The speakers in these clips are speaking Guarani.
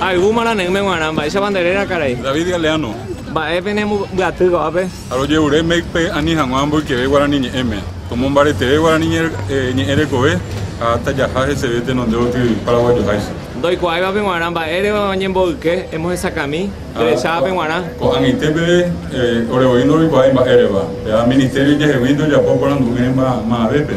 Ha yvúma nane'ỹme g̃uarã, mba'éichapa nde réra, karai? David Galeano. Mba'e pene mbyatýi ko'ápe? Ha rojevure MECP-pe ani hag̃ua mboykeve guarani ñe'ẽme, omombareteve guarani ñe'ẽ rekove ha tajaha heseve tenonde gotyo paraguajoháicha. Ndoikuaáivape g̃uarã mba'ére oñemboyke, emohesakãmi, derechávape g̃uarã. Ko'ag̃aite peve ore voi ndoroikuaái mba'érepa, pe'a Ministerio jehegui ndojapo porandu'ỹrema ma'avépe.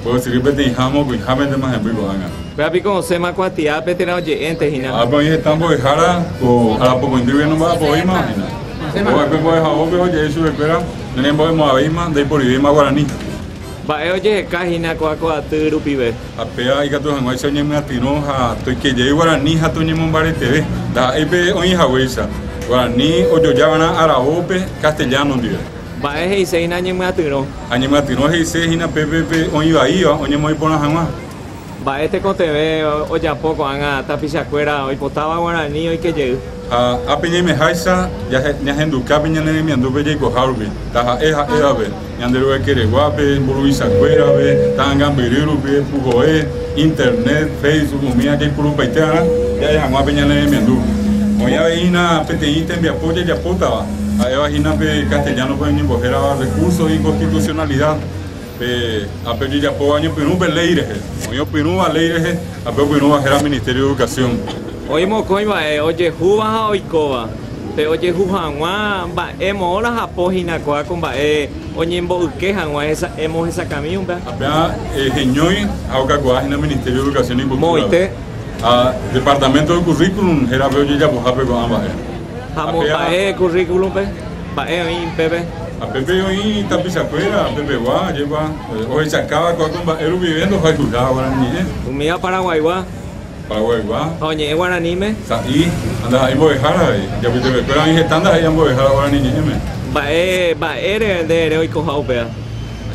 Mba'ysyry peteĩ ha mokõihápentema hemby ko'ág̃a. Péva piko osẽma kuatiápe térã oje'énte hína. Ápe oĩ heta mbo'ehára, ko arapokõindyve nomba'apovéima hína. Opova'ekue mbo'ehaópe oje'e chupekuéra nerembo'emo'ãvéima, ndaiporivéima guarani. Mba'e ojeheka hína ko akoaty rupive. Ha péva ikatu hag̃uáicha oñemyatyrõ ha toikejey guarani ha toñemombareteve, ndaha'éipe oĩ haguéicha, guarani ojoja va'erã aravópe castellano ndive. Mba'e he'ise hína ñemyatyrõ. Ha ñemyatyrõ he'ise hína pe pépe oĩ vaíva oñemoĩ porã hag̃ua. Mba'e tekotevẽ ojapo ko'ág̃a tapichakuéra oipotáva guarani oike jey. Ha ápe ñaimeháicha ñahenduka pe ñane remiandúpe jaikoha rupi, taha'e ha'évape, Ñanderuekeregua, pe mburuvichakuérape, ta'ãngambyry rupi, puhoe, Internet, Facebook, umi jaipurupaite va'erã ja'e hag̃ua pe ñane remiandu. Oĩ avei hína peteĩ tembiapo jajapótava Ha'éva hína pe castellano-pe oñembohérava recurso de inconstitucionalidad, pe ápe ojejapóva oñepyrũ pe léi rehe. Oĩ opyrũva léi rehe ha pe opyrũva héra Ministerio de Educación. Oĩ mokõi mba'e ojehúva ha oikóva. Pe ojehu hag̃ua mba'e moõ rajapo hína kóa ko mba'e oñembo'yke hag̃ua hesa'emo hesakãmi umpe. Ape'a heñói ha okakuaa hína Ministerio de Educación y Cultura-pe ha Departamento de Currículum hérape ojejapohápe ko'ã mba'e. Ha momba'e currículum-pe, mba'e oĩ pépe. Ha pépe oĩ tapichakuéra pepegua, ajépa ohechakava'ekue ko mba'e rupive ndohayhuiha Guarani ñe'ẽ. Umíva Paraguaigua. Paraguaigua. Ha oñe'ẽ Guaraníme. Sa'i, ha ndaha'éi mbo'ehára avei. Japytepekuéra oĩ heta ndaha'éi ambo'ehára Guarani ñe'ẽme. Mba'e, mba'ére nde ere oikoha upéva?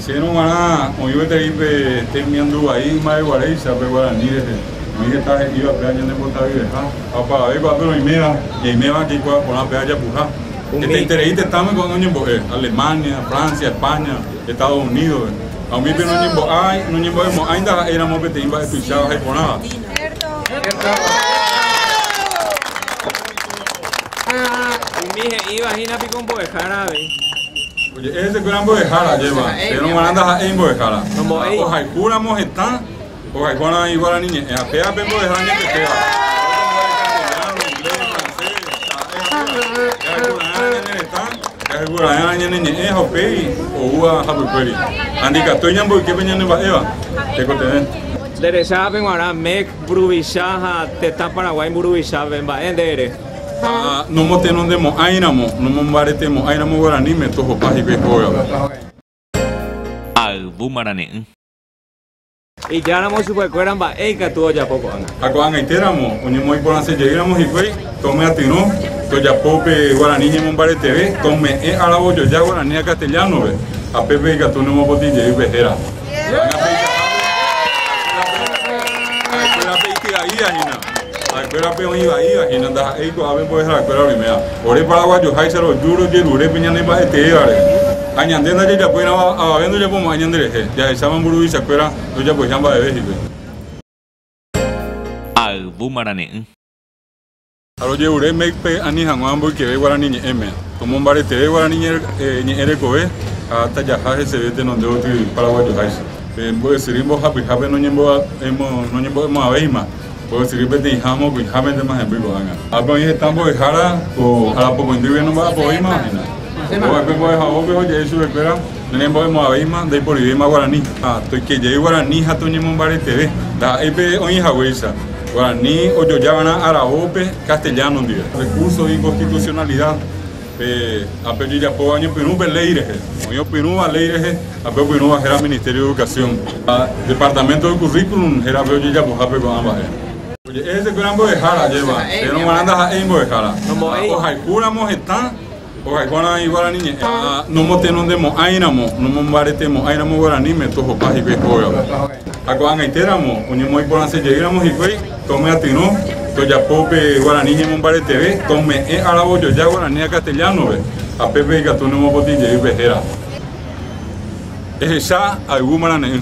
Chéngo g̃uarã oĩ gueteri pe temiandu vai ymave guaréicha pe Guarani rehe. Oĩ heta he'íva péva ñanembotavyeha. Ha opavavéva ápe roiméva, ñaiméva jaikuaa porã pe aja puha. Hetaiterei tetãme ko'ág̃a oñembo'e, Alemania, Francia, España, Estados Unídospe. Ha umi pe noñembo'ái, noñembo'emo'ãinda ha'e ramo peteĩ mba'e tuicháva ha iporãva. Umi he'íva hína piko mbo'ehára avei. Oje'e hesekuéra mbo'ehára ajéva, térõ g̃uarãnda ha'e imbo'ehára. Ohayhu ramo hetã. Hogayguarã iguarani ñe'ẽ ha péva pe mbo'eha añetetéva. Jaheguraerã ñane ñe'ẽ ha upéi oúva hapykuéri. Andikatúi ñamboyke pe ñane mba'éva tekotevẽ. Nde recha ápe guarã MEC mburuvicha ha tetã Paraguái mburuvichápe, mba'e nde ere? Ha nomotenondemo'ãiramo, nomombaretemo'ãiramo guaraníme tohopa hikuái hógape. Ayvu marane'ỹ. Ijáramo chupekuéra mba'e ikatu ojapo ko'ág̃a. Ha ko'ag̃aite ramo, oñemoĩporãse jey ramo hikuái, ko myatyrõ tojapo pe guarani ñemombareteve, ko me'ẽ aravojoja guarani ha castellano-pe, ha pépe ikatu nomopotĩ jey upe héra. Ha'ekuérape ity'aíahína. Ha'ekuéra pe oĩ vaíva hína ndaha'éi ko'ápe mbo'eharakue oĩmea. Ore paraguajoháicha roju rojerure pe ñane mba'eteéva rehe. Ha ñande ndajajapoirãva avave ndojapomo'ãi ñande rehe, jahecháma mburuvichakuéra ndojapoiha mba'eve hípe. Ha ayvu marane'ỹ. Ha rojerure Mécpe ani hag̃ua mboykeve guarani ñe'ẽme, omombaretere guarani ñe'ẽ rekove ha tajaha heseve tenonde gotyo paraguajoháicha. Pe mbo'esyry mbohapyhápe noñembo'emo'ãvéima. Oguesyry peteĩha mokõihámentema hemby ko'ág̃a. Ápe oĩ heta mbo'ehára, ko arapokõindyguive nomba'apo oĩmahina. Opova'ekue mbo'ehaópe oje'e chupekuéra, Nerembo'emo'ãvéima, ndaiporivéima guarani, ha toike jey guarani ha toñemombareteve. Ndaha'éi pe oĩhaguéicha, guarani ojojava'erã araópe castellano ndive. Recurso de inconstitucionalidad. Pe ape jejapóva oñepyrũ pe léi rehe, oĩ opyrũva léi rehe ha pe opyrũva héra Ministerio de Educación ha Departamento del Currículum hérape ojejapohápe ko'ã mba'e. Oje'e hesekuéra mbo'ehára ajépa, térõ g̃uarã ndaha'éi mbo'ehára. Ha ohayhúramo hetã, ohayhuáramo iguarani ñe'ẽ. Ha nomotenondemo'ãiramo, nomombaretemo'ãiramo guaraníme, tohopa hikuái hógape. Ha ko'ag̃aitéramo oñemoĩporãsejeýramo hikuái. Tomyatyrõ tojapo upe guarani ñemombareteve, tome'ẽ aravojoja guarani ha castellano-pe, ha pépe ikatu nomopotĩ jey upe héra. Ehecha ayvu marane'ỹ.